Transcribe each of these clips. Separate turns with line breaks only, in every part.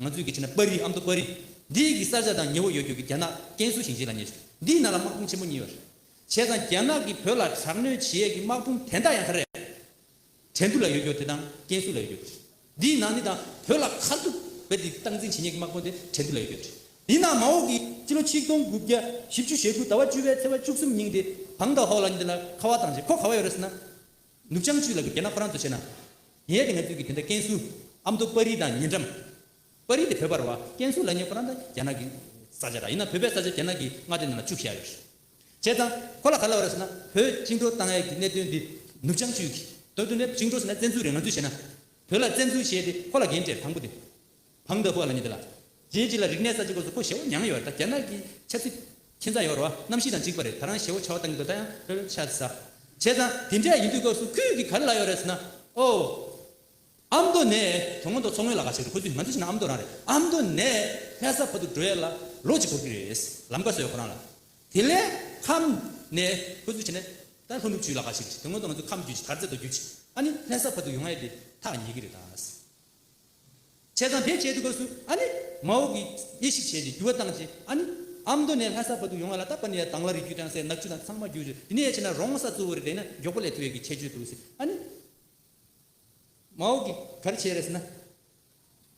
ང་ཚོའི་གི་ཆེ་ན་པར་རིས་ཨམ་མདོ་པར་རིས་འདི་གི་ས་ཆ་དང་ཉེ་བོ་ཡོད་རྒྱུ་གི་རྒྱ་ནག་ཀན་སུའུ་ཞིང་ཆེན་ལ་ཉེ་ཞིང་འདིའི་ནང་ལ་དམག་དཔུང་ཆེན་པོ་གཉིས་ཡོད། བྱས་ཙང་རྒྱ་ནག་གིས་བོད་ལ་དྲག་གནོན་བྱེད་ཡས་གི་དམག་དཔུང་དན་རྟགས་ཡང་ཁ་རས། དྲན་དུ་ལ་ཡོད་རྒྱུ་དེ་དང་ཀན་སུའུ་ལ་ཡོད་རྒྱུ་རེད། འདིའི་ནང་འདི་དང་བོད་ལ་ཁ་ཐུག་བོད་དེ་སྟངས་འཛིན་བྱེད་ཡས་གི་དམག་དཔུང་དེ་དྲན་དུ་ལ་ཡོད་རྒྱུ་རེད། འདིའི་ནང་མ་འོངས་གི་སྤྱི་ལོ་ཆིག་སྟོང་དགུ་བརྒྱ་བཞི་བཅུ་ཞེ་དགུ་ཟླ་བ་བཅུ་བའི་ཚེ་བ་བཅུ་གསུམ་ཉིང་དེ་བང་དང་ཧོ་ལ་འདི་ལ་ཁ་བ་དང་བྱེད་ཁོ་ག་བ་ཡོད་རེད་ཟེར་ན། ནུབ་བྱང་ཆུའི་ལག་གི་རྒྱ་ནག་ཕོ་རང་དུ་བྱས་ན། ངའི་དེ་ང་ཚོའི་གི་དེ་འདྲ་ཀན་སུའུ། ཨ་མདོ་དཔའ་རིས་དང་ཉེ་འགྲམ། དཔའ་རིས་དེ་བོད་པར་བ། ཀན་སུའུ་ལག་ངའི་ཕོ་རང་ད་རྒྱ་ནག་གི་ས་ཆ་ར་ཡིན་ན་བོད་པའི་ས་ཆ་རྒྱ་ནག་གི་མངའ་སྡེ་ནང་ལ་བཅུག་བཞག་ཡོད་རེད། བྱས་ཙང་ཁོ་ལ་ག་ལ་བ་རེད་ཟེར་ན་བོད་བཅིངས་འགྲོལ་བཏང་ཡས་གི་གནད་དོན་འདི་ནུབ་བྱང་ཆུའི་གི། དོན་དུ་ནས་བཅིངས་འགྲོལ་ཟེར་ན་བཙན་འཛུལ་རེད་ང་ཚོས་བྱས་ན། བོད་ལ་བཙན་འཛུལ་བྱས་དེ་ཁོ་ལ་འགན་འདྲེ་དང་པོ་དེ། བམ་བདག་པོ་ལ་ཉེ་དེ་ལ། རྗེའི་རྗེ་ལ་རིག་གནས་ས་ཅི་གོ་སོ་ཁོ་ཞེ་བོ་མྱང་ཡོད་ད་རྒྱ་ནག་གི་ཆབ་སྲིད་ཁྱེད་ཚ་ཡོར་བ་གནམ་གཤིས་དང་འཇིག་པ་རེད་ད་རང་ཞེ་བོ་ཆ་བ་བཏང་གི་འདུག་ད་ཡང་ལྷོད་ལྷོད་ཆ་ས་བྱས་ཙང་དེ་འདྲས་ཡིན་དུས་སྐབས་སུ་ཁུལ་གི་གར་ལ་ཡོད་རེད་ཟེར་ན་ཨོ། ཨ་མདོ་ནས་དོ་སྔོན་དོ་མཚོ་སྔོན་ལ་ག་ཆེ་རེད་ཁོ་ཚོས་ང་ཚོ་ཤི་ན་ཨ་མདོ་རང་རེད་ཨ་མདོ་ནས་ལྷ་ས་བར་དུ་འགྲོ་ཡས་ལ་ལོ་གཅིག་འགོར་གི་རེད་ལམ་ཀ་སོ་ཡོད་ཁོ་རང་ལ་དེ་ལས་ཁམས་ནས་ཁོ་ཚོས་བྱས་ན་ད་ལྷོ་ནུབ་བྱུས་ལ་ག་ཆེ་རེད་དོ་སྔོན་དུ་ང་ཚོ་ཁམས་བརྒྱུད་ཅིག་དར་རྩེ་དོ་བརྒྱུད་ཅིག་ཨ་ནི་ལྷ་ས་བར་དུ་ཡོང་ཨ་ཡེ་དེ་ཐག་ཉེ་གི་རེད་ད། བྱས་ཙང་བེད་སྤྱད་དུ་སྐབས་སུ་ཨ་ནི། མ་འོ་གི། དབྱེ་ཞིབ་བྱས་ཏེ་འགྱུར་བ་བཏང་རྗེས་ཨ་ནི། ཨ་མདོ་ནས་ལྷ་ས་བར་དུ་ཡོང་བ་ལ་སྟབས་བ་ནི་ཡ་དྭངས་བ་རི་རྒྱུད་བྲང་སའི་ནག་ཆུ་དང་ཚང་མ་རྒྱུ་རུ་དེ་ནས་ཡར་ཕྱིན་ན་རོང་ས་གཙོ་བོ་རེད་པས་ན་མགྱོགས་པོ་ལས་ཐུ་ཡོད་ཀྱི་ཁྱད་ཆོས་འདུག་ཟེར་ཨ་ནི། མ་འོ་གི། ག་རེ་བྱས་རེས་ན།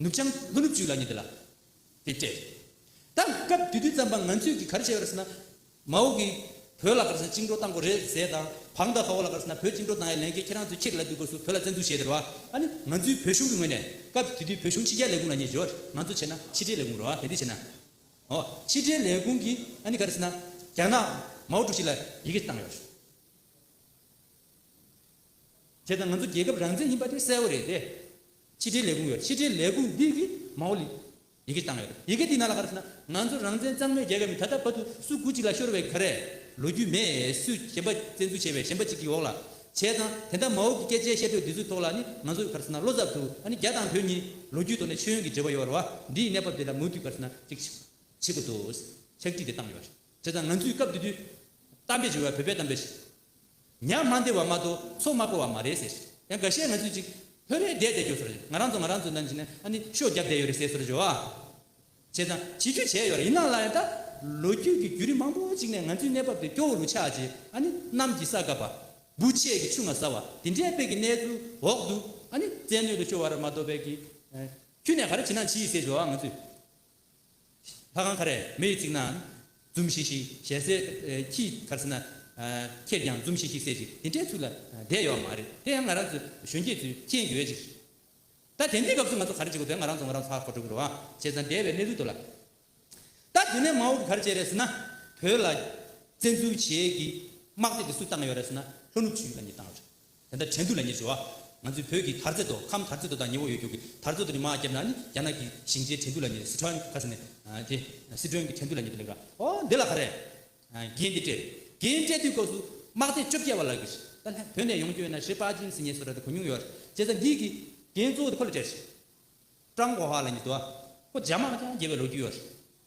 ནུབ་བྱང། ལྷོ་ནུབ་ཅུས་ལ་ཉེ་དེ་ལ། དེ་སྤྲད་རེད་ད། སྐབས་དུས་དུས་ཙམ་པ་ང་ཚོས་ཀྱི་ག་རེ་བྱས་པ་རེད་ཟེར་ན། མའོ་གིས། བོད་ལ་ག་རེ་ཟེར་བཅིངས་འགྲོ་བཏང་དགོས་རེད་ཟེར་དང། བྷག་མདའ་ཧའོ་ལ་ག་རེ་ཟེར་ན་བོད་བཅིངས་འགྲོ་བཏང་ཡ་ལན་ཁྱེད་ཁྱེད་རང་ཚོས་ཁྱེད་ཀྱི་ལ་དུས་དགོས་སུ་བོད་ལ་བཙན་འཛུལ་བྱས་ཟེར་བ། ཨ་ནི། ང་ཚོའི་བོད་གཞུང་གི་ངོས་ནས། སྐབས་དུས་དུས་བོད་གཞུང་ཕྱི་རྒྱལ་ལས་ཁུངས་ལ་ཉེ་འབྱོར། ང་ཚོ་བྱས་ན་ཕྱི་དྲིལ་ལས་ཁུངས་རོ། དེ་འདི་བྱས་ན། ཨོ། ཕྱི་དྲིལ་ལས་ཁུངས་ཀྱིས་ཨ་ནི་ག་རེ་ཟེར་ན། རྒྱ་ནག། མའོ་ཀྲུའུ་ཞི་ལ་ཡི་གེ་བཏང་ཡོད། དེ་དང་ང་ཚོ་རྒྱལ་ཁབ་རང་བཙན་ཡིན་པ་དེ་གསལ་བོ་རེད་དེ། ཕྱི་དྲིལ་ལས་ཁུངས་ཡོད་ཕྱི་དྲིལ་ལས་ཁུངས་འདི་གིས་མའོ་ལི། ཡི་གེ་བཏང་ཡོད་ཡི་གེ་འདི་ནང་ལ་ག་རེ་བྱས་ན་ང་ཚོ་རང་བཙན་གཙང་མའི་རྒྱལ་ཁབ་ཡིན་ད་ལྟ་བར་དུ་སུ་གུ་གཅིག་ལ་ཤོར་བའི་ག་རེ། ལོ་རྒྱུས་མེད་སུས་གཞན་པ་བཙན་འཛུལ་བྱས་པའི་གཞན་པ་གཅིག་གི་འོག་ལ་བྱས་ཙང་དེ་འདྲ་མའོ་གི་སྐད་ཆའི་བཤད་སྒྲོས་འདི་ཚོའི་ཐོག་ལ་ནི་ང་ཚོ་ག་རེ་བྱས་ན་བློ་ཚབ་འདུག་ཨ་ནི་རྒྱ་དང་བོད་གཉིས་ལོ་རྒྱུས་ཐོག་ནས་ཤེས་ཡོན་གྱི་འབྲེལ་བ་ཡོད་ར་བ་འདིའི་གནས་བབ་འདི་ལ་མུ་མཐུད་ག་རེ་བྱས་ན་གཅིག་བྱེད་དགོས་འདུག་ཕྱག་བྲིས་དེ་བཏང་ཡོད་རེད་བྱས་ཙང་ང་ཚོས་སྐབས་དེ་དུས་གཏམ་དཔེ་བྱས་བ་བོད་པའི་གཏམ་དཔེ་ཞིག་ཉག་མ་འདི་བ་མ་གཏོགས་ཚོགས་དམག་པོ་བ་མ་རེད་ཟེར། ཡང་འགའ་ཤས་ང་ཚོས་ཅིག། བོད་རེད་བསྡད་བསྡད་རྒྱུ་ཚོར། ང་རང་ཚོ་ང་རང་ཚོའི་ནང་གི་ནས་ཨ་ནི་ཤོ་བརྒྱབ་བསྡད་ཡོད་རེད་ཟེར་ཚོར་བྱོ། བྱས་ཙང་བྱེད་རྒྱུ་བྱས་ཡོད་རེད་ཡིན་ན་ལ་ཡང་ད། ལོ་རྒྱུས་ཀྱི་བརྒྱུད་རིམ་མང་པོ་ཅིག་ནས་ང་ཚོའི་གནས་བབ་དེ་སྐྱོ་བོ་རུ་ཆགས་རྗེས་ཨ་ནི་གནམ་གྱི་ས་བཀབ་པ། འབུ་ཆས་ཀྱི་ཆུ་ང་ཟ་བ་དེ་འདྲའི་དཔེ་གི་གནས་ཚུལ་འོག་ཏུ་ཨ་ནི་བཙན་གནོད་དུ་ཤོར་བ་རེད་མ་གཏོགས་བལ་གྱི། ཁྱུ་ནས་ག་རེ་བྱེད་ན་བྱིས་ཟེར་བྱོ་ང་ཚོས། ལྷ་ཁང་ཁ་རས་མེ་ཡིས་བརྩིགས་ན། འཛུམ་ཤིག་ཤིག་ཞལ་གསལ། ཁྱིའི་ཁར་ཟིན་ན། ཁྱེད་ཀྱང་འཛུམ་ཤིག་ཤིག་གསལ་ཅིག་དེ་འདྲའི་ཚུལ་ལ་བསྡད་ཡོད་བ་མ་རེད། དེ་ཡང་ང་རང་ཚོའི་གཞོན་སྐྱེས་ཚོའི་སྤྱན་གྱི་འོད་ཅིག་རེད། ད་དེ་འདྲའི་སྐབས་སུ་ང་ཚོ་ག་རེ་བྱེད་དགོས་དོན་ང་རང་ཚོ་ང་རང་ཚོ་ཧ་གོ་འགྲོ་གི་རོ། བྱས་ཙང་བསྡད་པའི་གནས་ཚུལ་དུ་ལ། ད་དེ་ནས་མའོ་གི་ག་རེ་བྱས་རེད་ཟེར་ན། བོད་ལ་བཙན་འཛུལ་བྱེད་ཀྱི་དམག་སྡེ་འདི་སུས་བཏང་ཡོད་རེད་ཟེར་ན། ལྷོ་ནུབ་ཆུའི་ཡུལ་ལ་ཉིད་བཏང་ཡོད་རེད། དེ་ལྟར་དྲན་དུས་ལ་ཉེར་འབྱོར་བ། ང་ཚོའི་བོད་ཀྱི་དར་རྩེ་དོ་ཁམ་དར་རྩེ་དོ་དང་ཉི་འོག་ཡོད་རྒྱུག་གི་དར་རྩེ་དོ་ནི་མ་བརྒྱབ་ན་ནི་རྒྱ་ནག་གི་ཞིང་ཆེན་དྲན་དུས་ལ་ཉེ་རེད་སི་ཁྲོན་ཁ་ཟེར་ནས་དེ་སི་ཁྲོན་གྱི་དྲན་དུས་ལ་ཉེ་དུས་ལེགས་ར་ཨོ་འདི་ལ་ཧ་རེད། རྒྱན་འདི་སྤྲད་རེད་རྒྱན་སྤྲད་དུས་སྐབས་སུ་དམག་སྡེ་བཅོ་བརྒྱད་བ་ལག་གི་ད་ལྷན་བོད་ནས་ཡོང་སྐྱོད་ན་ཞི་པ་ཅིང་སི་ཉེ་སོ་ར་དེ་གོ་མྱོང་ཡོད་རེད་བྱས་ཙང་འདི་གི་རྒྱན་གཙོ་བོ་དེ་ཁོ་ལ་སྤྲད་རེད། ཀྲང་གོ་ཧྭ་ལ་ཉེ་དུས་བ། ཁོ་རྒྱ་དམག་ཀྱང་རྒྱལ་བའི་ལོ་རྒྱུས་ཡོད་རེད།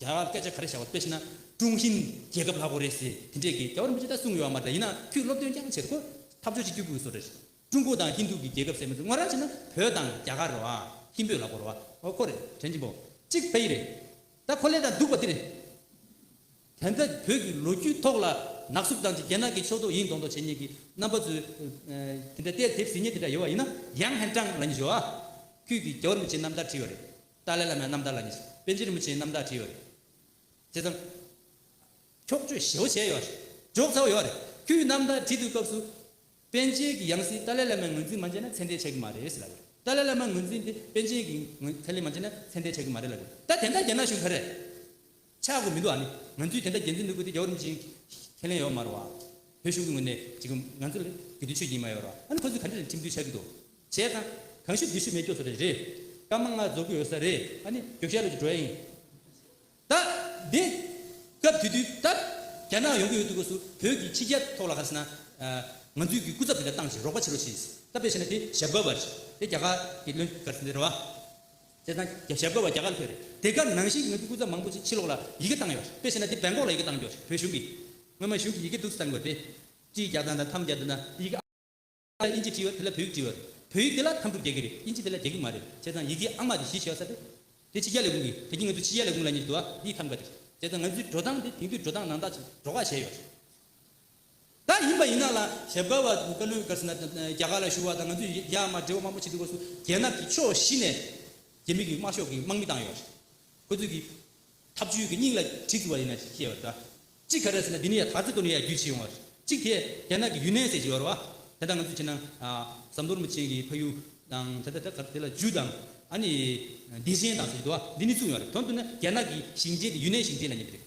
རྒྱ་གར་སྐད་ཆ་ག་རེ་བྱ་བ་དཔེ་ཤེས་ན་ཀྲུང་ཧྲིན་རྒྱལ་ཁབ་ལྷག་པོ་རེད་ཟེར་དེ་འདྲས་ཀྱི་རྒྱ་བོར་འབུད་ཆ་ད་གསུངས་ཡོད་བ་མ་རེད་ཡིན་ན་ཁྱོད་སློབ་སྟོན་རྐྱང་བྱེད་དགོས་ཐབས་སྦྱོར་ཅིག་སྐྱོ་དགོས་བཟོ་རེད་ཀྲུང་གོ་དང་ཧིན་དུ་གི་རྒྱལ་ཁབ་ཟེར་མི་འདུག་ངོས་རང་བྱས་ན་བོད་དང་རྒྱ་གར་རེད་བ་ཧིན་བོད་ལྷག་པོ་རེད་བ་འོ་ཁོ་རེད་དྲན་གྱིན་པོ་གཅིག་བོད་ཡིག་རེད་ད་ཁོ་ལས་དང་སྡུག་པ་འདི་རེད་དེ་འདྲ་བོད་ཀྱི་ལོ་རྒྱུས་ཐོག་ལ་ནག་སུབ་བཏང་རྗེས་རྒྱ་ནག་གི་ཕྱོགས་གཏོགས་ཡིན་མདོག་མདོག་བྱེད་ཉེས་ཀྱི་རྣམ་པ་ཚོས་དེ་འདྲ་བལྟས་དེབ་ཟིན་ཉེས་དེ་འདྲ་ཡོད་བ་ཡིན་ན་ཡང་ཧན་ཀྲང་ལ་ཉེས་བྱོས་བ་ཁྱོད་ཀྱིས་རྒྱ་བོར་འབུད་བྱེད་རྣམ་ཐར་བྲིས་ཡོད་རེད་ཏཱ་ལའི་བླ་མའི་རྣམ་ཐར་ལ་ནི་པཎ་ཆེན་རིན་པོ་ཆེའི་རྣམ་ཐར་བྲིས་ཡོད་རེད། དེ་ཙམ། འཁྱོག་བརྗོད་ཞེ་བོ་བྱས་ཡོད་རེད། འཇོག་ཚར་བ་ཡོད་རེད། ཁྱོད་ཀྱིས་རྣམ་ཐར་བྲིས་འདུག་སྐབས་སུ། པན་ཆེན་གྱི་ཡང་སྲིད་ཏཱ་ལའི་བླ་མའི་ངོས་འཛིན་མ་བྱས་ན་མཚན་ལྟས་ཆགས་ཀྱི་མ་རེད་ཟེར་ལབ་ཡོད་རེད། ཏཱ་ལའི་བླ་མའི་ངོས་འཛིན་དེ་པན་ཆེན་གྱི་ངོས་ཚལ་ལས་མ་བྱས་ན་མཚན་ལྟས་ཆགས་ཀྱི་མ་རེད་ལབ་ཡོད་རེད། ད་དེ་འདྲ་རྒྱ་ནག་གཞུང་ག་རེ། ཆགས་དགོས་མི་འདུག་ཨ་ནི། ང་ཚོས་དེ་འདྲ་རྒྱལ་མཚན་ནོར་བུ་དེ་རྒྱ་གར་རིན་ཆེན་ཁས་ལེན་ཡོད་མ་རེད་བ། བོད་གཞུང་གི་ངོས་ནས་ཅིག་གམ་ང་ཚོ་ལ་དགེ་འདུན་ཆོས་ཀྱི་ཡིན་མ་ཡོད་རེད་བ། ཨ་ནི་ཁོ་ཚོས་ག་འདྲ་རེད་ཁྲིམས་མཐུན་ཆགས་ཀྱི་འདུག་བྱས་ཙང། གང་ཤུགས་འདི་ཤུགས་མེད་སྐྱོ་ས་རེད་རེད། སྐར་མ་ལྔ་རྫོགས་ཀྱི་ཡོད་ས་རེད་ཨ་ནི། རྒྱོ་ཤལ་ལོ་ཀྱི་འགྲོ་ཡ་ཡིན། ད། འདི། སྐབས་དེ་དུས་ད། རྒྱ་ནག་ཡོང་གི་ཡོད་འདུག་སྒོས་སུ་བོད་ཀྱི་ཕྱི་རྒྱལ་ཐོག་ལ་ག་རེ་ཟེར་ན། ང་ཚོས་ཀྱི་སྐུ་ཚབ་དེ་འདྲ་བཏང་ཞིག་རོགས་པ་བྱེད་རོགས་ཞེས། ད་དཔེ་བྱས་ན་དེ་ཞབས་དགའ་བ་རེད། དེ་རྒྱ་གར་གྱི་བློན་ག་རེ་ཟེར་ན་རེད་བ། དེ་དང་རྒྱབ་ཞབས་བཀོད་བ་རྒྱ་གར་ཁུལ་རེད། དེ་སྐབས་ནང་བཞིན་ངོས་ཀྱི་སྐུ་ཚབ་མང་པོ་ཞིག་ཕྱི་ལོགས་ལ་ཡི་གེ་བཏང་ཡོད། དཔེ་བྱས་ན་དེ་སྦེལ་ཀོག་ལ་ཡི་གེ་བཏང་རྒྱུར་བོད་གཞུང་གིས། སྔོན་མ་གཞུང་གི་ཡི་གེ་འདུག་ཟེར་དགོས་ཏེ། སྤྱིའི་རྒྱག་སྟངས་དང་ཐམ་རྒྱག་དེ་ན། ཡི་གེ་ཨང་ལ་དབྱིན་ཇི་བྲིས་ཡོད་དེ་ལ་བོད་ཡིག་བྲིས་ཡོད། བོད་ཡིག་དེ་ལ་ཐམ་གྲུ་རྒྱག་གི་རེད་དབྱིན་ཇི་དེ་ལ་རྒྱག་གི་མ་རེད། བྱས་ཙང་ཡི་གེ་ཨང་མ་དེ་གཞི་བྱས་ཡོད་ས་རེད། དེ་ཕྱི་རྒྱལ་ལས་ཁུངས་ཀྱི་དེ་གྱིས་ང་ཚོའི་ཕྱི་རྒྱལ་ལས་ཁུངས་ལ་ཉེ་བར་འདུག་ཨ་དབྱིན་ཁམས་འགའ་དེ། བྱས་ཙང་ང་ཚོའི་འགྲོ་སྟངས་དེ་དེང་དུས་འགྲོ་སྟངས་ནང་ད་ཆ་འགྲོ་ཁ་བྱས་ཡོད། ད་ཡིན་པ་ཡིན་ན་ལ་ཞབས་དཀར་བ་བཀའ་བློན་དཀར་ཟེར་ན་རྒྱ་གར་ལ་ཞུ་བ་དང་ང་ཚོས་རྒྱ་དམར་འབྲེལ་བ་དམར་པོ་བྱེད་དུས་སྐོར་སུ་རྒྱལ་ནག་གི་ཕྱོགས་བཞི་ནས་རྒྱ་མི་གི་དམར་ཤོག་གི་དམག་མི་བཏང་ཡོད་རེད་ཁོ་ཚོས་གི་ཐབས་བྱུས་གི་སྙིང་ལ་གྲི་བཙུར་བ་ཡིན་ན་ཤེས་པར་གདའ། གཅིག་ག་རེ་ཟེར་ན་འདི་ནི་ཡ་ཐག་རྩེ་གཏོར་ནི་ཡ་རྒྱུས་ཆེ་ཡོང་བ་རེད་གཅིག་དེ་རྒྱ་ནག་གི་ཡུན་ནན་ཟེར་གྱི་ཡོད་རེད་བ། དེ་དང་ང་ཚོས་བྱས་ན་ཟམ་གཏོར་མ་ཅན་གི་ཕ་ཡུལ་དང་ད་ལྟ་ད་གར་དེ་ལ་ཇུས་དང་ཨ་ནི་བདེ་ཆེན་དང་ཟེར་གྱི་འདུག་བ་འདི་ནི་བཙུགས་ཡོང་རེད་དོན་དུ་ན་རྒྱ་ནག་གི་ཞིང་ཆེན་དེ་ཡུན་ནན་ཞིང་ཆེན་ལ་ཉེ་བ་རེད།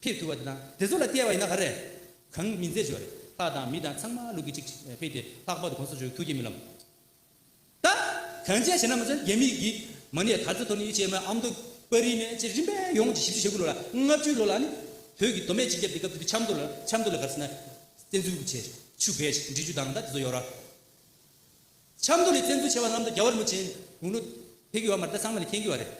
ཕེབས་ཐུབ་པ་དེ་དང་དེ་ཚོ་ལ་བལྟས་པ་ཡིན་ན་ག་རེ། གང་མིན་མཛེས་ཆོས་རེད། ལྷ་དང་མི་དང་ཚང་མ་ལུག་གི་གཅིག་ཕེབས་ཏེ་ལྷག་པར་དུ་གོང་ས་མཆོག་གི་ཐུགས་བསྐྱེད་རྨི་ལམ་ད། གངས་ཅན་བྱེ་ན་མ་ཚོན་རྒྱ་མི་གིས་མ་ནས་དར་ཚ་ཐོར་ནི་ཅེས་མ་ཨ་མདོ་པ་རིའི་མན་ཆད་རིམ་པས་ཡོངས་ཀྱི་བཞི་བཅུ་ཞེ་དགུ་ལོ་ལ་ལྔ་བཅུའི་ལོ་ལ་ནི་བོད་ཀྱི་མདོ་སྨད་སྤྱི་ཁྱབ་དེ་སྐབས་དེ་དུས་ཆབ་མདོ་ལ་ཆབ་མདོ་ལ་གར་སེ་ན་བཙན་འཛུལ་གྱི་ཆེ་ཆུ་བེད་ཆེ་འབྲི་ཆུ་དང་ད་དེ་ཚོ་ཡོད་ར། ཆབ་མདོ་ལས་བཙན་འཛུལ་བྱས་པ་རྣམས་ད་རྒྱ་བ་རི་མོ་ཅན་དགུང་ལོ་དེ་གི་བ་མར་ད་ཚང་མ་ལས་མཁྱེན་གི་བ་རེད།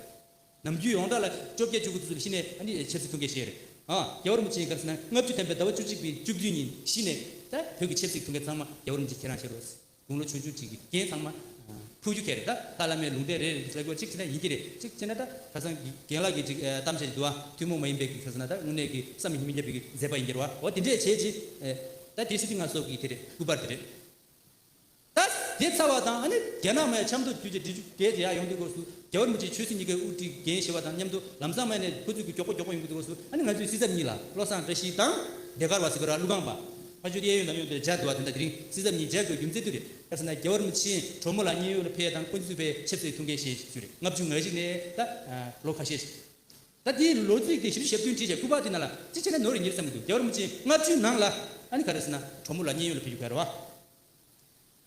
ནམ་རྒྱུན་ཡོངས་གྲགས་ལ་བཅོ་བརྒྱད་བཅུ་དགུ་ཙམ་ཤི་ནས་ཕྱི་རྩི་ཐུང་ཁའི་ཞལ་རེར། རྒྱ་བོར་མི་ཆེན་ག་རེ་ཟེར་ན་ལྔ་བཅུ་ཐམ་པའི་ཟླ་བ་བཅུ་གཅིག་པའི་བཅུ་བདུན་ཉིན་ཤི་ནས། བོད་ཀྱི་ཕྱི་རྩི་ཐུང་ཁའི་ཚང་མ་རྒྱ་བོར་མི་ཆེན་ཁྱེད་རང་ཤི་རོགས། དགུང་ལོ་ཆུང་ཆུང་ཅིག་གི་རྒན་ཚང་མ། ཕུགས་རྒྱུ་ཁྱེད་རེད་ད། ཏཱ་ལ་མའི་ལུང་བསྟན་རེད་རེད་ཅིག་ཟེར་དགོས་ཅིག་བྱས་ན་ཡིན་གྱི་རེད་ཅིག་བྱས་ན་ད། ཁ་སང་གི་རྒན་ལགས་ཀྱི་ཅིག་གཏམ་བཤད་ཅིག་འདུག་ཨ། ཐུན་མོང་མ་ཡིན་པའི་གི་ཁ་ཟེར་ན་ད་དངོས་གནས་གི་བསམ་ཡིན་མི་རྒྱབ་པའི་གི་མཛད་པ་ཡིན་གྱི་རོ། འོ་དེ་འདྲས་བྱས་ཅིག། ད་དེ་སྲིད་དེ་ང་སོགས་ཀྱི་དེ་རེད་སྐུ་པར་དེ་རེད། ད་དེ་ཚར་བ་དང་ཨ་ནི་རྒྱ་ནག་མའི་ཆབ་མདོ་རྒྱུད་ཀྱི་འབྲི་ཆུ་བརྒལ་ཏེ་ཡར་ཡོང་དུས་སྐོར་སུ་རྒྱ་བོད་མི་རྗེ་ཆོས་སྲིད་གཉིས་ཀའི་དབུ་ཁྲིད་འགན་བཞེས་པ་དང་མཉམ་དུ་ལམ་བཟང་མལ་ནས་ཁོ་ཚོས་གུ་མགྱོགས་ཁོ་མགྱོགས་པོ་ཡོང་གི་འདུག་སྐོར་སུ་ཨ་ནི་ང་ཚོའི་སྲིད་ཚབ་གཉིས་ལ་བློ་བཟང་བཀྲ་ཤིས་དང་ལས་ཀར་བ་སི་བི་ར་ཀླུ་སྒང་པ། ཕ་ཆོས་གཡས་གཡོན་དང་གཡོན་དུ་འཇའ་འདུལ་བ་དེ་འདྲ་དེ་རིང་སྲིད་ཚབ་གཉིས་མཇལ་དགོས་རྒྱུ་མཛད་དུས་རེད་སྐབས་སུ་ན་རྒྱ་བོད་མི་ཆེན་གྲོགས་མོ་ལ་བརྙན་ཡོད་ལ་ཕེ་དང་ཀོན་ཅི་ཚུད་པའི་ཆབ་སྲིད་ཐུགས་འགན་བཞེས་ཚུལ་རེད་ལྔ་བཅུ་ང་གཞིག་ནས་ད་ལོ་ཁ་ཤས་ད་དེ་ལོ་ཚིགས་དེ་བཞི་བཅུ་ཞབས་བདུན་བྲིས་བྱས་སྐུ་པར་དེ་ནང་ལ་ཅི་བྱས་ནས་ནོར་རེ་ཉེར་བསམ་གི་འདུག་རྒྱ་བོད་མི་ཆེན་ལྔ་བཅུའི་ནང་ལ་ཨ་ནི་ག་རེ་སུ་ན་གྲོགས་མོ་ལ་བརྙན་ཡོད་ལ་ཕེ་རྒྱུ་ག་རེ་བ།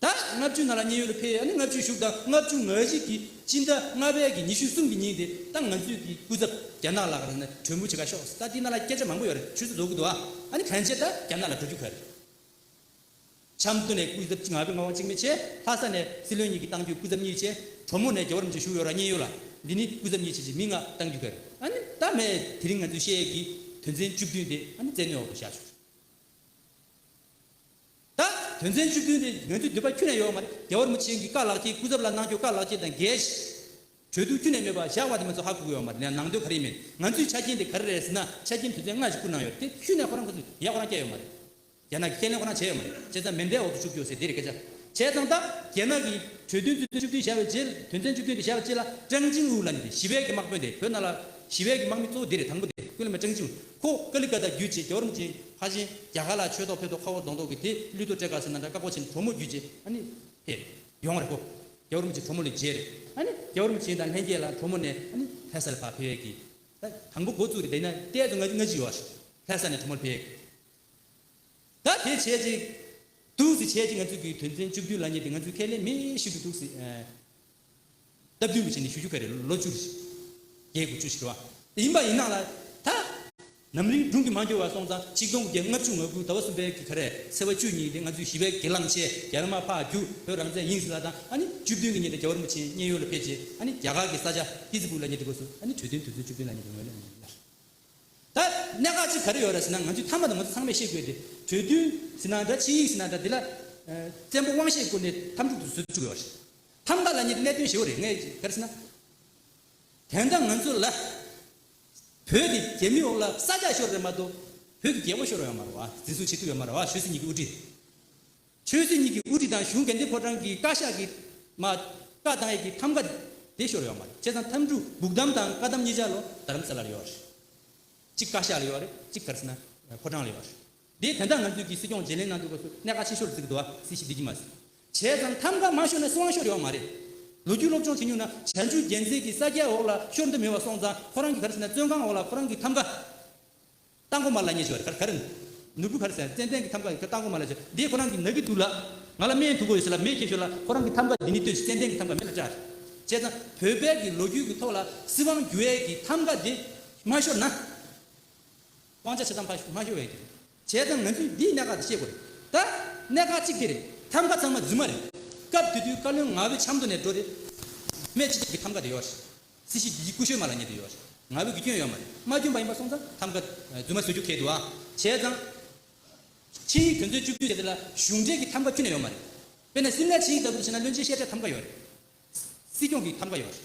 ད་ལྔ་བཅུའི་ནང་ལ་མཉན་ཡོད་དུ་ཕེབས་ཡས་ནི་ལྔ་བཅུའི་ཞུགས་དང་ལྔ་བཅུ་ང་བཞི་གི་སྤྱི་ཟླ་ལྔ་པའི་གི་ཉི་ཤུ་གསུམ་གི་ཉིན་དེ་ད་ང་ཚོས་གི་སྐུ་ཚབ་རྒྱ་ནག་ལ་ག་རེ་ནི་གྲོས་མོལ་བྱེད་ག་ཤོག་ད་དེ་ནང་ལ་སྐད་ཆ་མང་པོ་ཡོད་རེད་ཁྱོད་ཚོ་འགྲོ་གི་འདུག་ཨ་ནི་ཕན་ཆད་ད་རྒྱ་ནག་ལ་འགྲོ་རྒྱུ་ག་རེད། ཆབ་མདོ་ནས་སྐུ་ཚབ་གཅིག་ང་བས་ང་བ་གཅིག་མེད་ཆེ་ལྷ་ས་ནས་སྲིད་བློན་གཉིས་གི་བཏང་རྒྱུ་སྐུ་ཚབ་གཉིས་ཆེ་གྲོ་མོ་ནས་རྒྱ་བོར་མི་ཆེ་བཞུགས་ཡོད་ར་མཉན་ཡོད་ལ་འདི་ནི་སྐུ་ཚབ་གཉིས་ཆེ་ཆེ་མི་ལྔ་བཏང་རྒྱུ་ག་རེད་ཨ་ནི་ད་མེད་དེ་རིང་ང་ཚོས་བཤད་ཡས་གི་དོན་ཚན་བཅུ་བདུན་དེ་ཨ་ནི་བཙན་གནོད་འོག་ཏུ་བཞག་ཆོག། ད། དོན་ཚན་བཅུ་བདུན་རེད་འོན་ཏེ་འདོད་པ་ཁྱུ་ནས་ཡོང་བ་རྒྱལ་བར་མོ་ཆེན་གྱི་བཀའ་ལགས་ཀྱིས་སྐུ་ཚབ་ལ་གནང་སྐྱོ་བཀའ་ལགས་ཀྱིས་དང་འགལ་ཞེས། གྲོས་བསྡུར་ཁྱུ་ནས་མེད་པ་བཞག་བ་དེ་མ་ཚོ་ཧ་གོ་གི་ཡོག་མ་རེད་ན་ནང་དོན་ག་རེ་མེད་ང་ཚོའི་ཆ་རྐྱེན་དེ་ག་རེ་རེད་ཟེར་ན་ཆ་རྐྱེན་དོན་ཚན་ལྔ་ཞིག་བསྐུར་གནང་ཡོད་དེ་ཁྱུ་ནས་ཁོ་རང་གི་ཚོ་ཡས་ཁོ་རང་བསྐྱལ་ཡོད་མ་རེད། རྒྱ་ནག་གིས་ཁས་ལེན་ཁོ་རང་བྱས་ཡོད་མ་རེད་བྱས་ཙང་མེ་མདའི་འོག་ཏུ་བཅུག་གྱོ་ཟེར་དེ་རེད་སྐད་ཆ། བྱས་ཙང་ད། རྒྱ་ནག་གིས་གྲོས་དོན་དོན་ཚན་བཅུ་བདུན་བཞག་པའི་རྗེས་དོན་ཚན་བཅུ་བདུན་དེ་བཞག་པའི་རྗེས་ལ་ཀྲང་ཅིང་ཝུའུ་ལ་ནི་ཞི་བའི་གི་དམག་དཔོན་དེ་བོད་ནང་ལ་ཞི་བའི་གི་དམག་མི་གཙོ་བོ་དེ་རེད་དང་པོ་དེ་སྐུ་ལས་མེད་ཀྲང་ཅིང་ཁོ་ཀ་ལི་ཀ་ཏ་བརྒྱུད་ཅེས་རྒྱ་རོམ་གྱི་ཧ་བཞིན་རྒྱ་གར་ལ་ཆོས་ཐོག་ཕེབས་ཐོག་ཁ་བོ་གདོང་ཐོག་གི་དེ་གླུད་དུ་སྤྲེལ་དཀར་སེར་ནཱ་དྲ་དཀར་པོ་ཆེན་གྲོ་མོ་བརྒྱུད་ཅེས་ཨ་ནི་དེ་ཡོང་བ་རེད་ཁོ་རྒྱ་རོམ་གྱི་གྲོ་མོ་ལས་རྗེས་རེད་ཨ་ནི་རྒྱ་རོམ་ཆེན་དང་ལྷན་རྒྱས་ལ་གྲོ་མོ་ནས་ཨ་ནི་དྷ་ས་ལ་ཕ་ཕེབས་ཀྱི་ད་དང་པོ་འགོ་བཙུགས་རེད་དེ་ནས་གཏད་དོ་སྔ་ཕྱི་ཡོད་ཨ་ཞེས་དྷ་ས་ནས་གྲོ་མོར་ཕེབས་ཀྱི་ད་དེ་བྱས་ཅིག་འདུག་ཟེར་བྱས་ཅིག་ང་ཚོས་གི་དོན་ཚན་བཅུ་བདུན་ལ་ཉེ་དེ་ང་ཚོས་ཁས་ལེན་མེད་ཞིག་ཏུ་འདུག་ཟེར། སྟབས་བསྟུན་མི་བྱེད་ནས་ཞུ་རྒྱུ་ག་རེ་ལོ་བཅུ། བརྒྱད་དགུ་བཅུ་ཞིག་རེད་བ། ཡིན་པ་ཡིན་ནག་ལ་ད། ནམ་རིང་སྒྲུང་གི་མ་འགྱུར་བར་སོང་ཙང་ཆིག་སྟོང་བརྒྱད་ལྔ་བཅུ་ང་དགུ་ཟླ་བ་གསུམ་པའི་གི་ག་རེ་སེ་བ་བཅུ་གཉིས་ལེ་ང་ཚོའི་བཞི་བའི་གི་གླང་ཆེ་རྒྱ་ལ་མ་ཕ་རྒྱུ་བོད་རང་བཙན་ཡིན་ཟིན་ལ་དང་ཨ་ནི་བཅུ་བདུན་གི་ཉིན་དེ་རྒྱ་བོར་མུ་ཆེན་མཉན་ཡོད་ལ་ཕེབས་རྗེས་ཨ་ནི་རྒྱ་གར་གི་ས་ཆ་ཏི་ཙི་པུར་ལ་ཉེ་སྡེ་དགོས་སུ་ཨ་ནི་གྲོས་མཐུན་དུས་ཚོད་བཅུ་བདུན་ལ་ཉེ་སྡེ་ངོས་ལ་ཉེ་སྡེ་ལ། ད་གནད་འགག་ཅིག་ག་རེ་ཡོད་ར་ཟེར་ན་ང་ཚོའི་མཐའ་མ་དང་ང་ཚོ་ཚང་མས་ཤེས་དགོས་དེ་གྲོས་མཐུན་ཟིན་ན་འདྲ་ཆིངས་ཡིག་ཟིན་ན་འདྲ་དེ་ལ། བཙན་པོ་དབང་ཤེད་བཀོལ་ནས་ཐམས་ཅད་དུ་བཟོས་བཅུག་ཡོད་ར། ཐམ་ག་ལ་ཉེ་བའི་གནད་དོན་བཞི་བོ་རེ་ངས་ཕེར་ཟིན་ན། དོན་དག་ང་ཚོ་ལ། བོད་ཀྱི་རྒྱལ་མི་འོག་ལ་ས་རྒྱ་ཤོར་བས་མ་གཏོགས། བོད་ཀྱི་རྒྱལ་པོ་ཤོར་བས་མ་རུང་བ། འཛིན་བཟུང་བྱེད་ཐུབ་བས་མ་རུང་བ་ཆོས་སྲིད་གཉིས་ཀྱི་དབུ་ཁྲིད། ཆོས་སྲིད་གཉིས་ཀྱི་དབུ་ཁྲིད་དང་གཞུང་གལ་འགྲེལ་ཕོ་བྲང་གི་བཀའ་ཤག་གི། མ། བཀའ་བཏང་ཡས་ཀྱི་ཐམ་ག། དེ་ཤོར་བས་མ་རེད་བྱས་ཙང་ཐམ་གྲུ་སྦུག་གཏམ་དང་བཀའ་གཏམ་གཉིས་ཆ་ལོ་རྡ་རམ་ས་ལ་ལ་ཡོད་བ་རེད། གཅིག་བཀའ་ཤག་ལ་ཡོད་བ་རེད་གཅིག་ཕེར་ཟིན་ན། ཕོ་བྲང་ལ་ཡོད་བ་རེད། འདི་དོན་དག་ང་ཚོའི་གིས་སྲིད་སྐྱོང་བརྗེ་ལེན་གནང་དུས་སྐབས་སུ་གནད་ཀ་ཆེ་ཤོར་བརྩི་གི་འདུག་བ་སྲིད་ཞི་བདེ་གི་མ་བྱས་ཙང་ཐམ་ག་མ་ཤོར་ན་སྲིད་དབང་ཤོར་ཡོང་མ་རེད། ལོ་རྒྱུས་སློབ་སྦྱོང་བྱེད་མྱོང་ན་བྱ་འཇུ་རྒྱལ་མཚན་གི་ས་སྐྱའི་འོག་ལ་ཤོར་འདི་མི་བ་སོང་ཙང་ཁོ་རང་གི་ག་རེ་ཟེར་ན་བཙོན་ཁང་འོག་ལ་ཁོ་རང་གི་ཐམ་ག་རྟ་མགོ་མ་ལ་ཉེ་ཞོར་ག་རེ་ག་རེ་ནུར་བུ་ག་རེ་ཟེར་ན་ཙན་ཙན་གི་ཐམ་ག་གི་རྟ་མགོ་མ་ལ་ཞོར་འདི་ཁོ་རང་གི་ན་གི་དུག་ལ་ང་ལ་སྨན་དུག་གོ་ཡོད་ཟེར་ལ་མེ་ཁྱེར་ཞོར་ལ་ཁོ་རང་གི་ཐམ་ག་འདི་ནི་ལྟོས་ཤིག་ཙན་ཙན་གི་ཐམ་ག་མེ་ལ་བཀྲ་བྱས་ཙང་བོད་པའི་གི་ལོ་རྒྱུས་གི་ཐོག་ལ་སྲིད་དབང་རྒྱུ་བའི་གི་ཐམ་ག་འདི་མ་ཤོར་ན། སྤང་བྱ་ཇི་ཙམ་ཕར་མ་ཤོར་བའི་དོན། བྱས་ཙང་ང་ཚོས་འདིའི་གནད་འགག་དེ་ཤེས་དགོས་རེད་ད། གནད་འགག་གཅིག་དེ་རེད། ཐམ་ག་ཚང་མ་རྫུན་མ་རེད། སྐབས་དེ་དུས་བཀའ་བློན་ང་བོས་ཆབ་མདོ་ནས་འགྲོ་རེད། བོད་མི་སྤྱི་ཁྱབ་ཀྱི་ཐམ་ག་དེ་ཡོད་རེད། སྲིད་ཞིབ་ཀྱི་ཡིག་སྐུ་ཤོད་མ་ལ་ཉེ་དུ་ཡོད་རེད། ང་བོས་དགེ་སྐྱོན་ཡོད་མ་རེད། མ་སྐྱོན་པ་ཡིན་པ་སོང་ཙང་ཐམ་ག་རྫུན་མ་བཟོ་རྒྱུ་གལ་འདུག་ཨ། བྱས་ཙང། ཆིངས་ཡིག་དོན་ཚོད་བཅུ་བཅུ་དེ་དེ་ལ་གཞུང་འབྲེལ་གྱི་ཐམ་ག་བཅུ་ནས་ཡོད་མ་རེད། དཔེར་ན་སིམ་ལའི་ཆིངས་ཡིག་ལྟ་བུ་དེ་བྱས་ན་བློན་ཆེན་བཤད་གྲྭའི་ཐམ་ག་ཡོད་རེད། སྲིད་སྐྱོང་གི་ཐམ་ག་ཡོད་རེད།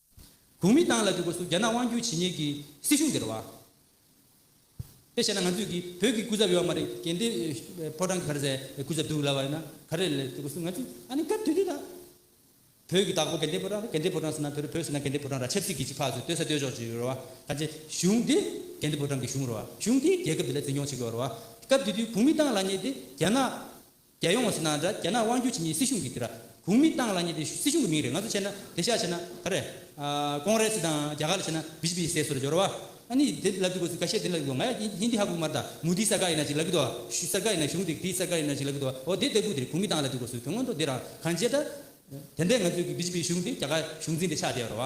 གུང་མི་ཏང་ལ་དུས་འཁོར་སུ་རྒྱ་ནག་དབང་སྒྱུར་བྱེད་ཉེས་ཀྱི་སྲིད་གཞུང་འདིར་བ། དཔེ་བྱས་ན་ང་ཚོས་ཀྱི་བོད་ཀྱི་སྐུ་ཚབ་ཡོད་མ་རེད་གན་དེ་ཕོ་བྲང་གི་གར་ཟའི་སྐུ་ཚབ་འདུག་ལབ་བ་ཡིན་ན་ག་རེ་ལས་དུས་འཁོར་སུ་ང་ཚོས་ཨ་ནི་སྐབས་དུས་དུས་ད། བོད་ཀྱི་བདག་པོ་གན་དེ་ཕོ་བྲང་རེད་གན་དེ་ཕོ་བྲང་ཟེར་ན་བོད་བོད་ཟེར་ན་གན་དེ་ཕོ་བྲང་ར་ཆབ་སྲིད་ཀྱི་ཅིག་ཕག་ཟེར་ལྟོས་ས་ལྟོས་ཆོག་ཅིག་ཡོད་རེད་བ་ད་ཆེ་གཞུང་དེ་གན་དེ་ཕོ་བྲང་གི་གཞུང་རེད་བ་གཞུང་དེས་རྒྱལ་ཁབ་འདི་ལ་འཛིན་སྐྱོང་བྱེད་དགོས་རེད་བ་སྐབས་དུས་དུས་གུང་མི་ཏང་ལ་ཉེས་དེ་རྒྱ་ནག་རྒྱལ་ཡོངས་སུ་ནང་དགྲ་རྒྱ་ནག་དབང་བསྒྱུར་བྱེད་ཉིན་སྲིད་གཞུང་གི་དེ་ར་གུང་མི་བཏང་ལ་ཉེ་དེ་སྲིད་གཞུང་གི་མིང་རེད་ང་ཚོ་བྱས་ན་དེ་ཤ་བྱས་ན་ད་རེད། ཀོང་རེ་སི་དང་རྒྱ་གར་ལ་བྱས་ན་བི་ཇི་པི་ཟས་སུ་ར་འཇོ་ར་བ། ཨ་ནི་དེ་ལབ་གི་དགོས་སི་ག་ཤེད་དེ་ལབ་གི་དགོས་ང་ཡ་ཧི་ཧིན་དི་ཧ་གོ་གི་མ་རེད་ད་མུ་དི་ས་ག་ཡིན་ན་ཅིག་ལབ་གི་དོ་ཤུ་སར་ཀ་ཡིན་ན་གཞུང་དེ་གི་སར་ཀ་ཡིན་ན་ཅིག་ལབ་གི་དོ་ཨོ་དེ་ལྟ་བུ་དེ་རེད་གུང་མི་བཏང་ལ་དེ་དགོས་སུ་དེ་སྔོན་ཐོ་དེ་ར་གང་བྱས་ད། དེ་འད་ང་ཚོའི་གི་བི་ཇི་པི་གཞུང་དེ་རྒྱ་གར་གཞུང་འཛིན་དེ་ཆགས་བསྡད་ཡོ་ར་བ།